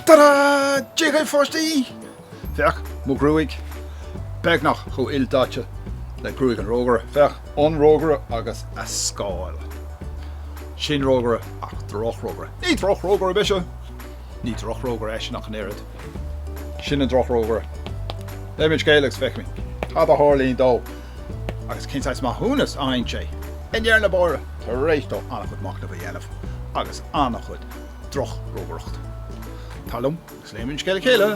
Tada! Déarfainn pháistí! Féach, mo ghruaig! Beagnach chomh ildaite le gruaig an rógaire. Féach, an rógaire agus a scáil. Sin rógaire, ach drochrógaire. Ní drochrógaire mise! Ní drochrógaire eisean ach an oiread. Sin an drochrógaire. Léimis an scéal agus feicimis cad a tharlaíonn dó agus cén saghas maithiúnas a fhaigheann sé i ndeireadh na dála tar éis dó an-chuid machnaimh a dhéanamh agus an-chuid drochrógaireachta. Tar liom agus léimis an scéal le chéile!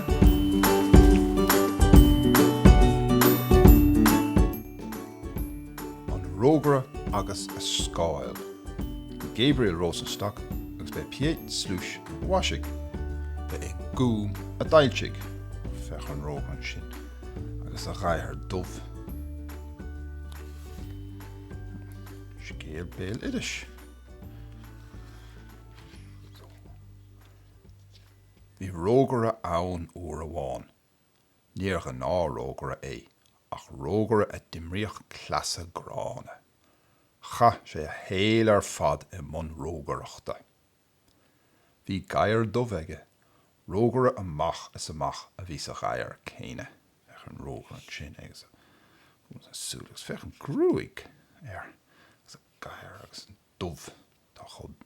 An Rógaire agus a Scáil. ó Gabriel Rosenstock agus b'é Piet Sluis a mhaisigh. Ba é An Gúm a d'fhoilsigh, féach an rógaire ansin, agus a ghadhar dubh. Scéal béal iris. Bhí rógaire ann uair amháin. Níor ghnáthrógaire é, ach rógaire a d'imríodh cleasa gránna. Chaith sé a shaol ar fad i mbun rógaireachta. Bhí gadhar dubh aige, rógaire amach is amach a bhí sa ghadhar céanna. Féach an rógaire ansin agus a shúile agus féach an ghruaig air agus a ghadhar agus an dubh atá chomh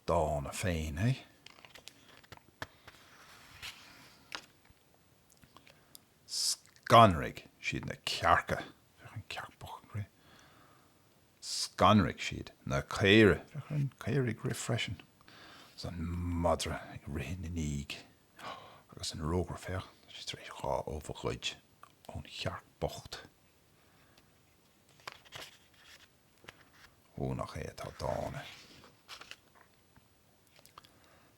dána féin é. Scanraigh siad na cearca, féach an chearc bhocht ag rith. Scanraigh siad na caoirigh, féach an chaora ag rith freisin. Agus an madra ag rith ina ndiaidh. Agus an rógaire, féach, tá sé tar éis dhá ubh a ghoid ón chearc bhocht. Ó, nach é atá dána!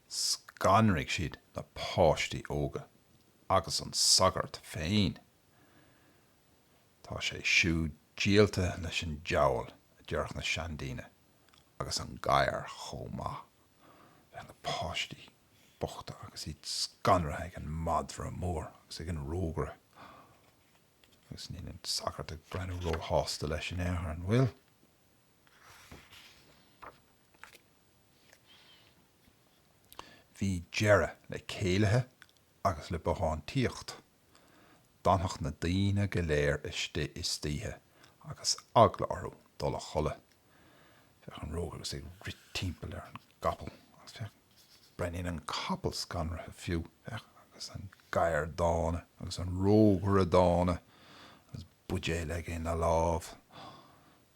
Scanraigh siad na páistí óga agus an sagart féin. Tá sé siúd díolta leis an diabhal, a deireadh na seandaoine, agus an gadhar chomh maith. Féach na páistí bochta agus iad scanraithe ag an madra mór agus ag an rógaire. Agus níl an sagart ag breathnú róshásta leis in aon chor, an bhfuil? Bhí deireadh le céilithe agus le bothántaíocht. D'fhanfadh na daoine go léir istigh istoíche agus eagla orthu dul a chodladh. Féach an rógaire agus é ag rith timpeall ar an gcapall agus féach breathnaíonn an capall scanraithe fiú. Féach agus an gadhar dána agus an rógaire dána agus buidéal aige ina lámh.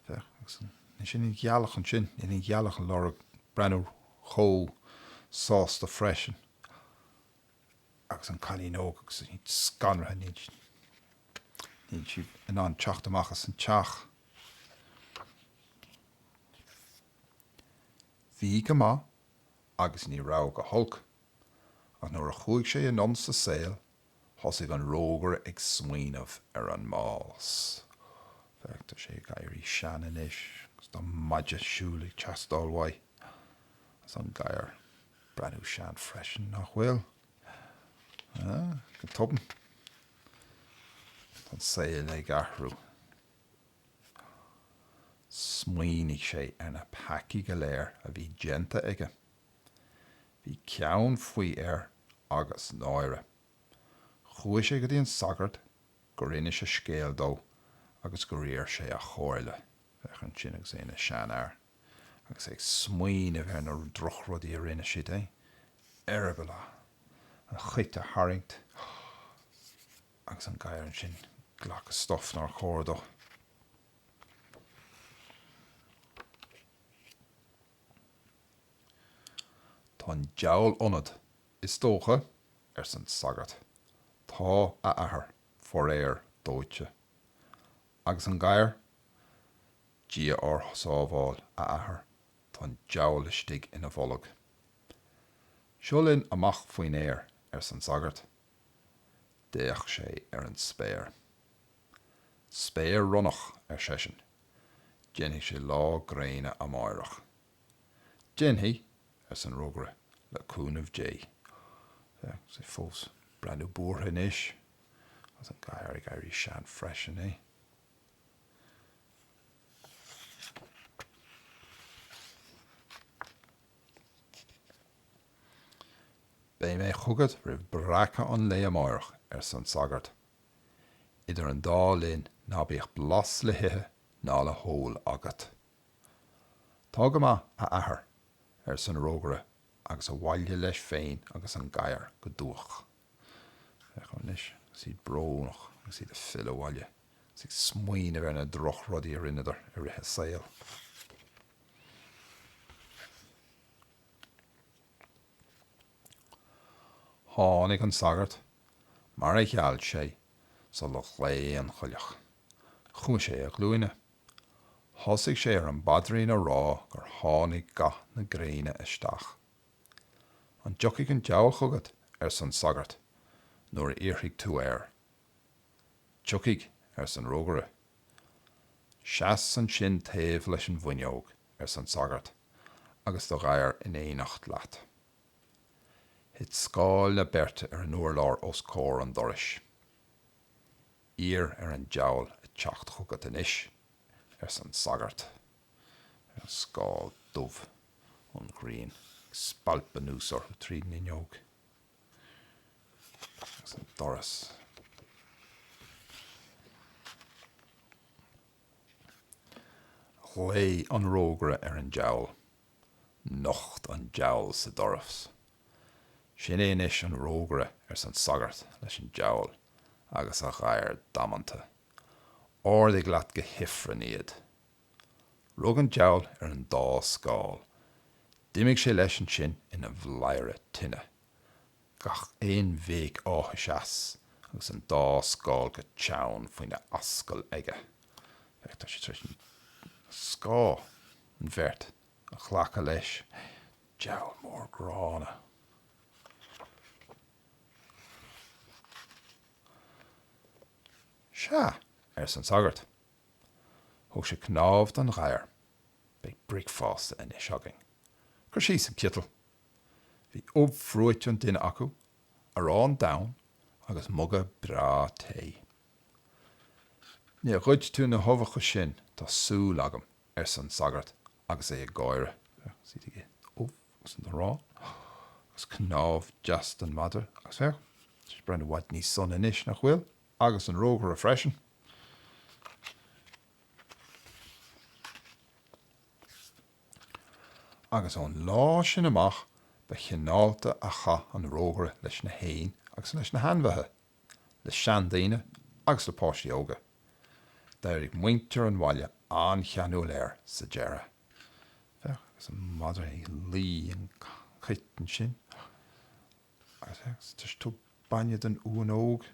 Féach, agus sin í an ghealach ansin, níl an ghealach ag lorg breathnú chomh sásta freisin agus an cailín óg agus í scanraithe, níl sí in ann teacht amach as an teach. Bhí go maith agus ní raibh go holc, ach nuair a chuaigh sé anonn sa saol, Thosaigh an rógaire ag smaoineamh ar an mbás. Féach, tá sé ag éirí sean anois agus tá maide siúil ag teastáil uaidh. Is an gadhar breathnú sean freisin, nach bhfuil? Go tobann, tá an saol ag athrú. Smaoinigh sé ar na peacaí go léir a bhí déanta aige. Bhí ceann faoi air agus náire. Chuaigh sé go dtí an sagart gur inis a scéal dó agus gur iarr sé a chomhairle. Féach ansin agus é ina seanfhear agus é ag smaoineamh ar na drochrudaí a rinne siad, eh eireaball an chait a tharraingt agus an gadhar ansin glacadh stuif nár chóir dó. Tá an deabhal ionat, is dócha, arsa an sagart. Tá, a Athair, faraor dóite. Agus an gadhar? Dia ár sábháil, a Athair, tá an deabhal istigh ina bholg. Seo linn amach faoin aer, arsa an sagart. D'fhéach sé ar an spéir. Spéir ronnach, ar seisean. Déanfaidh sé lá gréine amáireach. Déanfaidh, arsa an rógaire, le cúnamh Dé. Sea, agus é fós breathnú buartha anois, agus an gadhar ag éirí sean freisin, eh. Beidh mé chugat roimh breacadh an lae amáireach, arsa an sagart. Idir an dá linn ná bíodh blas le hithe ná le hól agat. Tá go maith, a athair, arsa an rógaire agus abhaile leis féin agus an gadhar go dubhach. Féach anois agus iad brónach agus iad ag filleadh abhaile agus ag smaoineamh ar na droch rudaí a rinneadar i rith a saoil. Tháinig an sagart mar a gheall sé sular ghlaoigh an coileach. Chuaigh sé ar a ghlúine. Thosaigh sé ar an bpaidrín a rá gur tháinig gath na gréine isteach. An dtiocfaidh an diabhal chugat, arsan sagart, nuair a iarrfaidh tú air? Tiocfaidh, arsa an rógaire. Seas ansin taobh leis an bhfuinneog, arsa an sagart, agus do ghadhar in éineacht leat. Thit scáil na beirte ar an urlár os comhair an dorais. Iarr ar an diabhal a teacht chugat anois, arsa an sagart, an scáil dhubh an ghrian ag spalpadh anuas orthu tríd an fhuinneog agus an doras. Ghlaoigh an rógaire ar an diabhal Nocht an diabhal sa doras. Sin é anois an rógaire arsa an sagart leis an diabhal agus a ghadhar damanta. Ardaigh leat go hifreann iad. Rug an diabhal ar an dá scáil. D'imigh sé leis ansin ina bhladhaire tine. gach aon bhéic áthais as agus an dá scáil go teann faoina ascaill aige. Féach, tá sé tar éis an scáth, an bheirt, a ghlacadh leis, diabhal mór gránna. Sea, arsa an sagart. Thug sé cnámh don ghadhar. Beidh bricfeasta anois againn. Cuir síos an citeal. Bhí ubh bhruite an duine acu, arán donn agus muga breá tae. Níor ghoid tú na huibheacha sin, tá súil agam, arsa an sagart agus é ag gáire. D'ith siad an ubh agus an t-arán agus cnámh deas don mhadra agus féach, tá sé ag breathnú i bhfad níos sona anois, nach bhfuil? Agus an rógaire freisin. agus ón lá sin amach ba chineálta a chaith an rógaire leis na héin agus leis na hainmhithe, le seandaoine agus le páistí óga. D'éirigh muintir an bhaile an-cheanúil air sa deireadh. Féach, agus an madra ag lí an chait ansin, agus féach, agus tá sé ag tabhairt bainne don uan óg,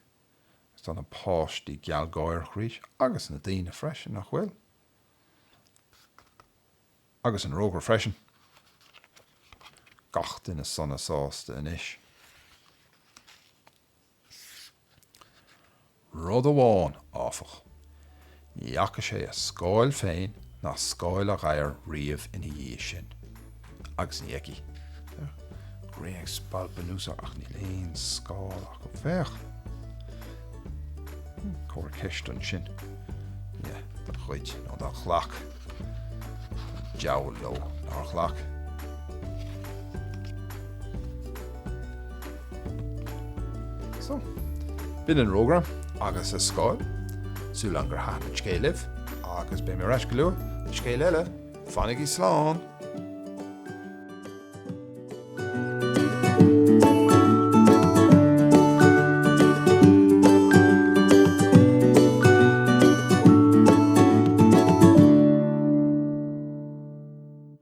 agus tá na páistí gealgháireach arís, agus na daoine freisin, nach bhfuil? Agus an rógaire freisin. Gach duine sona sásta anois. Rud amháin, áfach. Ní fhaca sé a scáil féin ná scáil a ghadhair riamh ina dhiaidh sin. agus an ní fheicfidh. Grian ag spalpadh anuas ach níl aon scáil acu. Féach! Cóir ceist ansin. Ie, don chuid, nó dá ghlac an diabhal leo. Nár ghlac? So, b'in an rógaire agus a scáil. Súil agam gur thaitin an scéal libh agus beidh mé ar ais go luath le scéal eile. Fanaigí slán!